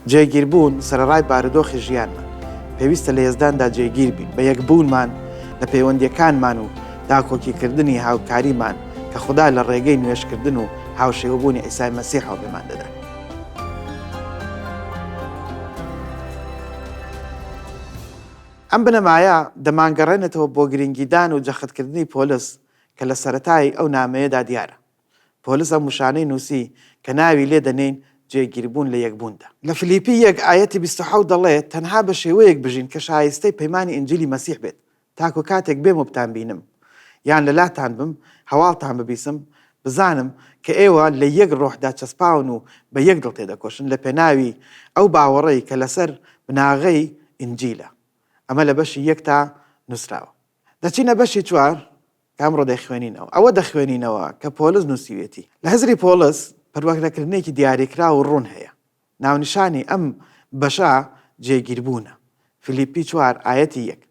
جێگیربوون سەرەڕای بارودۆخی ژیانمان پێویستە لە یەزداندا جێگیر بین بە یەکبوونمان لە پەیوەندیەکانمان و داکۆکیکردنی هاوکاریمان کە خوددا لە ڕێگەی نوێشکردن و هاوشێوەبوونی ئیسای مەسی حاڵێمان دەدات. ئەم بنەمایە دەمانگەڕێنێتەوە بۆ گرنگیدان و جەختکردنی پۆلس کە لە سەرەتای ئەو نامەیەدا دیارە پۆلس ئەم وشانەی نووسی کە ناوی لێ دەنێین جێگیربوون لە یەکبووندا. لە فلیپی یەک ئایەتی بیست و حەوت دەڵێت، تەنها بە شێوەیەک بژین کە شایستەی پەیمانی ئینجیلی مەسیح بێت، تاکو کاتێک بێم و بتانبینم، یان لەلاتان بم، هەواڵتان ببیسم، بزانم کە ئێوە لە یەک ڕۆحدا چەسپاون و بە یەک دڵ تێدەکۆشن لەپێناوی ئەو باوەڕەی کە لەسەر بناغەی ئینجیلە. ئەمە لە بەشی یەکتا نووسراوە. دەچینە بەشی چوار. کامڕۆ دەیخوێنینەوە، ئەوە دەخوێنینەوە کە پۆلس نووسیوێتی. لە هزری پۆلس پەروەکرەکردنێکی دیاریکراو و ڕوون هەیە. ناونیشانی ئەم بەشە جێگیربوونە، فیلیپی چوار ئایەتی یەک،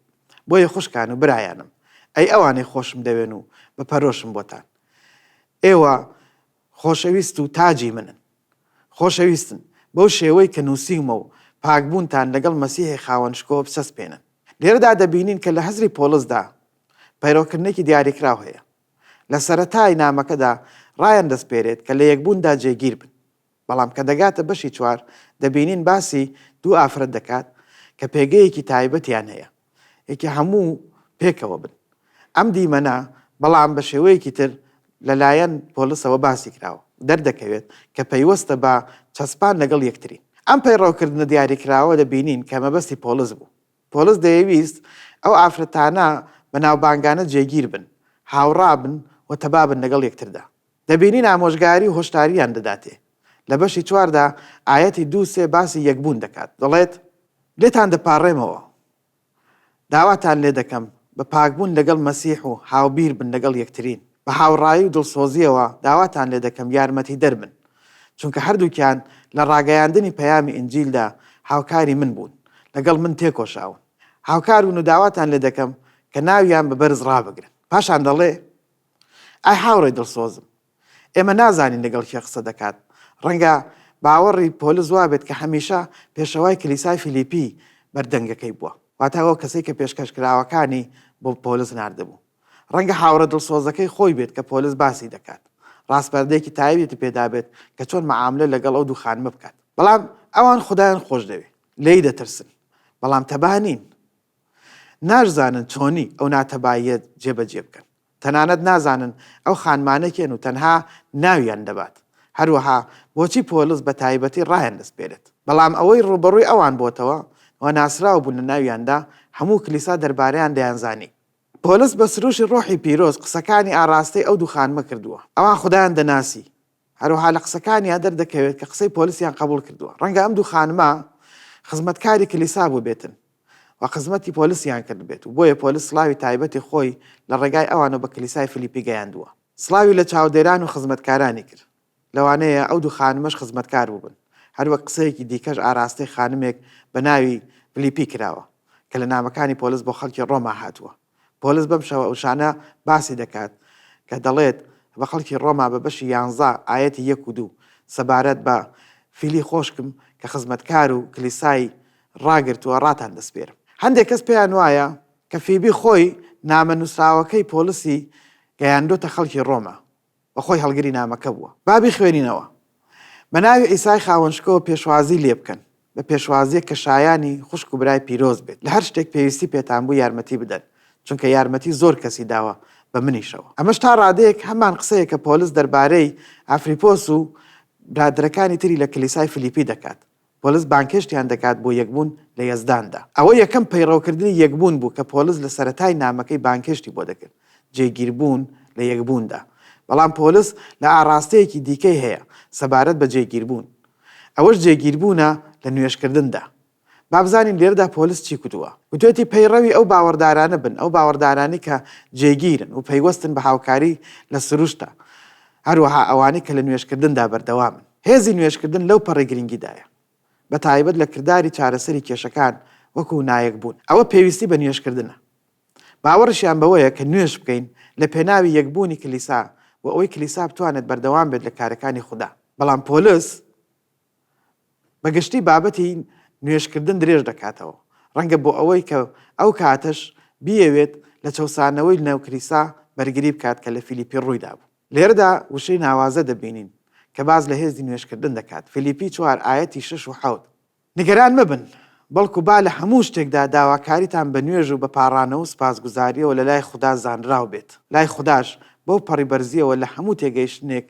بۆیە خوشکان و برایانم، ئەی ئەوانەی خۆشم دەوێن و بە پەرۆشم بۆتان، ئێوە خۆشەویست و تاجی منن. خۆشەویستن، بەو شێوەی کە نووسیومە و پاکبوونتان لەگەڵ مەسیحی خاوەن شکۆ بسەسپێنن. لێرەدا دەبینین کە لە هزری پۆڵسدا پەیڕەوکردنێکی دیاریکراو هەیە. لە سەرەتای نامەکەدا ڕایاندەسپێرێت کە لە یەکبووندا جێگیر بن. بەڵام کە دەگاتە بەشی چوار، دەبینین باسی دوو ئافرەت دەکات کە پێگەیەکی تایبەتیان هەیە. یەکێ هەموو پێکەوە بن. ئەم دیمەنە بەڵام بە شێوەیەکی تر لەلایەن پۆلسەوە باسی کراوە، دەردەکەوێت کە پەیوەستە بە چەسپان لەگەڵ یەکتری. ئەم پەیڕەوکردنە دیاریکراوە دەبینین کە مەبەستی پۆلس بوو. پۆلس دەیەویست ئەو ئافرەتانە بەناوبانگانە جێگیر بن، هاوڕا بن و تەبا بن لەگەڵ یەکتردا. دەبینین ئامۆژگاری و هۆشدارییان دەداتێ لە بەشی چواردا ئایەتی دوو سێ باسی یەکبوون دەکات دەڵێت، لێتان دەپاڕێمەوە، داواتان لێ دەکەم بە پاکبوون لەگەڵ مەسیح و هاوبیر بن لەگەڵ یەکترین، بە هاوڕایی و دڵسۆزییەوە داواتان لێ دەکەم یارمەتیدەر بن، چونکە هەردووکیان لە ڕاگەیاندنی پەیامی ئینجیلدا هاوکاری من بوون، لەگەڵ من تێکۆشاون. هاوکار بن و داواتان لێ دەکەم کە ناویان بە بەرز ڕابگرن. پاشان دەڵێ، ئای هاوڕێی دڵسۆزم! ئێمە نازانین لەگەڵ کێ قسە دەکات. ڕەنگە باوەڕی پۆلس وابێت کە هەمیشە پێشەوای کلیسای فیلیپی بەردەنگەکەی بووە، واتە ئەو کەسەی کە پێشکەشکراوەکانی بۆ پۆلس ناردبوو. ڕەنگە هاوڕێ دڵسۆزەکەی خۆی بێت کە پۆلس باسی دەکات، ڕاسپاردەیەکی تایبەتی پێ دابێت کە چۆن مەعاملە لەگەڵ ئەو دوو خانمە بکات. بەڵام ئەوان خودایان خۆش دەوێت، لێی دەترسن، بەڵام تەبا نین. ناشزانن چۆنی ئەو ناتەباییە جێبەجێ بکەن. تەنانەت نازانن ئەو خانمانە کێن و تەنها ناویان دەبات، هەروەها بۆچی پۆلس بە تایبەتی ڕایان دەسپێرێت. بەڵام ئەوەی ڕووبەڕووی ئەوان بۆتەوە و ناسراو بوون لە ناویاندا، هەموو کلیسا دەربارەیان دەیانزانی. پۆلس بە سروشی ڕۆحی پیرۆز قسەکانی ئاڕاستەی ئەو دوو خانمە کردووە. ئەوان خودایان دەناسی، هەروەها لە قسەکانیان دەردەکەوێت کە قسەی پۆلیسیان قبوڵ کردووە، ڕەنگە ئەم دوو خانمە خزمەتکاری کلیسا بووبێتن و قزمەتی پۆلیسیان کردبێت و بۆیە پۆلیس سڵاوی تایبەتی خۆی لە ڕێگای ئەوانەوە بە کلیسای فلیپی گەیاندووە. سڵاوی لە چاودێران و خزمەتکارانی کرد، لەوانەیە ئەو دوو خانمەش خزمەتکار بووبن، هەروەک قسەیەکی دیکەش ئاراستەی خانمێک بە ناوی فلیپی کراوە کە لە نامەکانی پۆلیس بۆ خەڵکی ڕۆما هاتووە. پۆلس بەم شەوە وشانە باسی دەکات کە دەڵێت بە خەڵکی ڕۆما بە بەشی یانزە ئایەتی یەک و دوو سەبارەت بە فیلی خۆشکم کە خزمەتکار و کلیسای ڕاگرتووە ڕاتان دەسپێرم. هەندێک کەس پێیان وایە کە فیبی خۆی نامە نووسراوەکەی پۆلسی گەیاندۆتە خەڵکی ڕۆما و خۆی هەڵگری نامەکە بووە. با بیخوێنینەوە. بە ناوی عیسای خاوەنشکۆوە پێشوازی لێ بکەن، بە پێشوازییەک کە شایانی خوشک و برای پیرۆز بێت، لە هەر شتێک پێویستی پێتان بوو یارمەتی بدەن، چونکە یارمەتی زۆر کەسی داوە، بە منیشەوە. ئەمەش تا ڕادەیەک هەمان قسەیە کە پۆلس دەربارەی ئافریپۆس و برادەرەکانی تری لە کلیسای فلیپی دەکات، پۆلس بانگهێشتیان دەکات بۆ یەکبوون لە یەزداندا. ئەوە یەکەم پەیڕەوکردنی یەکبوون بوو کە پۆلس لە سەرەتای نامەکەی بانگهێشتی بۆ دەکرد، جێگیربوون لە یەکبووندا. بەڵام پۆلس لە ئاڕاستەیەکی دیکەی هەیە سەبارەت بە جێگیربوون، ئەوەش جێگیربوونە لە نوێژکردندا. با بزانین لێرەدا پۆلس چی کوتووە. گوتوویەتی پەیڕەوی ئەو باوەڕدارانە بن، ئەو باوەڕدارانەی کە جێگیرن و پەیوەستن بە هاوکاری لە سروشتدا، هەروەها ئەوانەی کە لە نوێژکردندا بەردەوامن. هێزی نوێژکردن لەو پەڕی گرنگیدایە، بە تایبەت لە کرداری چارەسەری کێشەکان وەکوو نایەکبوون، ئەوە پێویستی بە نوێژکردنە. باوەڕیشیان بەوەیە کە نوێژ بکەین لە پێناوی یەکبوونی کلیسا و ئەوەی کلیسا بتوانێت بەردەوام بێت لە کارەکانی خودا. بەڵام پۆلس بە گشتی بابەتی نوێژکردن درێژ دەکاتەوە، ڕەنگە بۆ ئەوەی کە ئەو کاتەش بیەوێت لە چەوسانەوەی ناو کلیسا بەرگری بکات کە لە فیلیپی ڕووی دابوو. لێرەدا وشەی ناوازە دەبینین کە باس لە هێزی نوێژکردن دەکات، فیلیپی چوار ئایەتی شەش و حەوت، نیگەران مەبن، بەڵکو با لە هەموو شتێکدا داواکاریتان بە نوێژ و بە پاڕانەوە و سوپاسگوزارییەوە لە لای خودا زانراو بێت، لای خوداش بەو پەڕی بەرزییەوە لە هەموو تێگەیشتنێک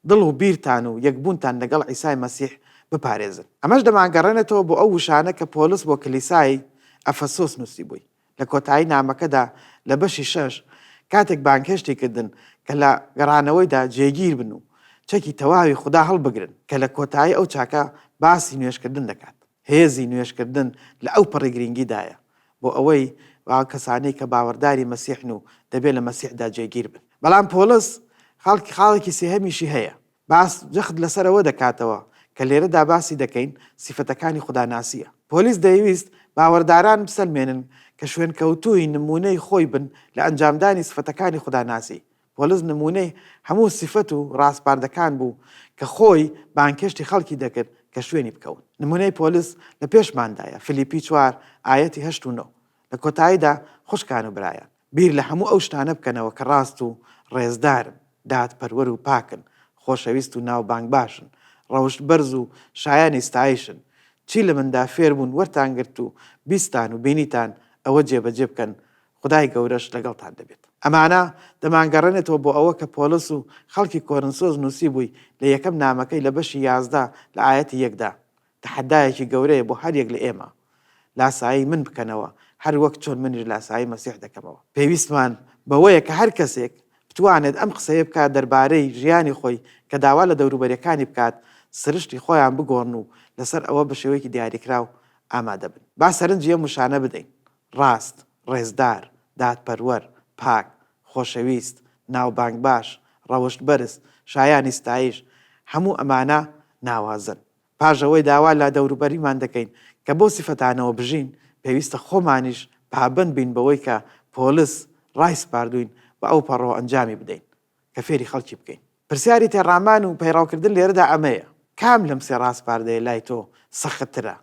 دڵ و بیرتان و یەکبوونتان لەگەڵ عیسای مەسیح بپارێزن. ئەمەش دەمانگەڕێنێتەوە بۆ ئەو وشانە کە پۆلس بۆ کلیسای ئەفەسۆس نووسیبووی. لە کۆتایی نامەکەدا لە بەشی شەش کاتێک بانگهێشتی کردن کە لە گەڕانەوەیدا جێگیر بن و چەکی تەواوی خودا هەڵبگرن، کە لە کۆتایی ئەو چاکە باسی نوێژکردن دەکات. هێزی نوێژکردن لە ئەوپەڕی گرنگیدایە بۆ ئەوەی ئەو کەسانەی کە باوەڕداری مەسیحن و دەبێت لە مەسیحدا جێگیر بن. بەڵام پۆڵس خاڵکی خاڵێکی سێهەمیشی هەیە، باس جەخت لەسەر ئەوە دەکاتەوە کە لێرەدا باسی دەکەین سیفەتەکانی خوداناسییە. پۆلیس دەیویست باوەرداران بسەلمێنن کە شوێنکەوتووی نموونەی خۆی بن لە ئەنجامدانی سفەتەکانی خوداناسی. پۆلس نموونەی هەموو سیفەت و ڕاسپاردەکان بوو کە خۆی بانگهێشتی خەڵکی دەکرد کە شوێنی بکەون. نموونەی پۆلس لە پێشماندایە، فلیپی چوار ئایەتی هەشت و نۆ. لە کۆتاییدا خوشکان و برایان، بیر لە هەموو ئەو شتانە بکەنەوە کە ڕاست و ڕێزدارن، دادپەروەر و پاکن، خۆشەویست و ناوبانگباشن، ڕەوشت بەرز و شایانی ستایشن، چی لە مندا فێر بوون وەرتان گرت و بیستان و بینیتان ئەوە جێبەجێ بکەن، خودای گەورەش لەگەڵتان دەبێت. ئەمانە دەمانگەڕێنێتەوە بۆ ئەوە کە پۆلس و خەڵکی کۆرنسۆس نووسیبووی لە یەکەم نامەکەی لە بەشی یازدە لە ئایەتی یەکدا، تەحەدایەکی گەورەیە بۆ هەر یەک لە ئێمە لاسایی من بکەنەوە هەر وەک چۆن منیش لاسایی مەسیح دەکەمەوە. پێویستمان بەوەیە کە هەر کەسێک بتوانێت ئەم قسەیە بکات دەربارەی ژیانی خۆی کە داوا لە دەوروبەریەکانی بکات سرشتی خۆیان بگۆڕن و لەسەر ئەوە بە شێوەیەکی دیاریکراو ئامادە بن. با سەرنجی ئەم وشانە بدەین، ڕاست، ڕێزدار، دادپەروەر، پاک، خۆشەویست، ناوبانگ باش، ڕەوشت بەرز، شایانی ستایش، هەموو ئەمانە ناوازەن. پاش ئەوەی داوا لە دەوروبەریمان دەکەین کە بەو سیفەتانەوە بژین، پێویستە خۆمانیش پابەند بین بەوەی کە پۆلس ڕایسپاردووین و ئەوپەڕۆ ئەنجامی بدەین کە فێری خەڵکی بکەین. پرسیاری تێڕامان و پەیڕەوکردن لێرەدا ئەمەیە، کام لەم سێ ڕاسپاردەیە لای تۆ سەختترە؟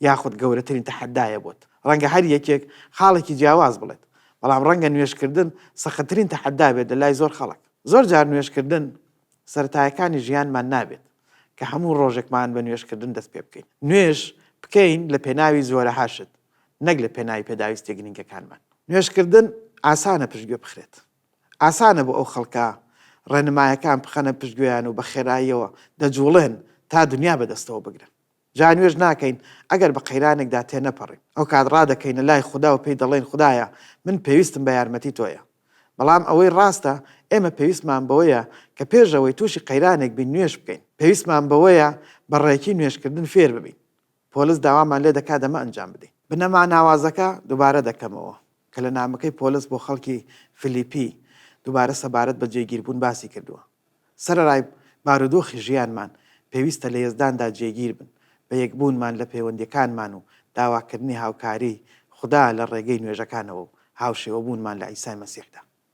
یاخود گەورەترین تەحەدایە بۆت؟ ڕەنگە هەر یەکێک خاڵێکی جیاواز بڵێت، بەڵام ڕەنگە نوێژکردن سەختترین تەحەدا بێت لە لای زۆر خەڵک. زۆر جار نوێژکردن سەرەتایەکانی ژیانمان نابێت کە هەموو ڕۆژێکمان بە نوێژکردن دەست پێ بکەین. نوێژ بکەین لە پێناوی زۆرەها شت، نەک لە پێناوی پێداویستییە گرنگەکانمان. نوێژکردن ئاسانە پشتگوێ بخرێت. ئاسانە بۆ ئەو خەڵکە ڕێنمایەکان بخەنە پشتگوێیان و بە خێراییەوە دەجووڵێن تا دنیا بەدەستەوە بگرن. جا نوێژ ناکەین ئەگەر بە قەیرانێکدا تێنەپەڕین، ئەوکات ڕادەکەینە لای خودا و پێی دەڵێین، خودایە من پێویستم بە یارمەتی تۆیە. بەڵام ئەوەی ڕاستە ئێمە پێویستمان بەوەیە کە پێش ئەوەی تووشی قەیرانێک بین نوێژ بکەین، پێویستمان بەوەیە بە ڕێکی نوێژکردن فێر ببین. پۆلس داوامان لێ دەکات ئەمە ئەنجام بدەین. بنەما ناوازەکە دووبارە دەکەمەوە کە لە نامەکەی پۆلس بۆ خەڵکی فلیپی دووبارە سەبارەت بە جێگیربوون باسی کردووە. سەرەڕای بارودۆخی ژیانمان، پێویستە لە یەزداندا جێگیر بن، بە یەکبوونمان لە پەیوەندییەکانمان و داواکردنی هاوکاریی خودا لە ڕێگەی نوێژەکانەوە و هاوشێوەبوونمان لە عیسای مەسیحدا.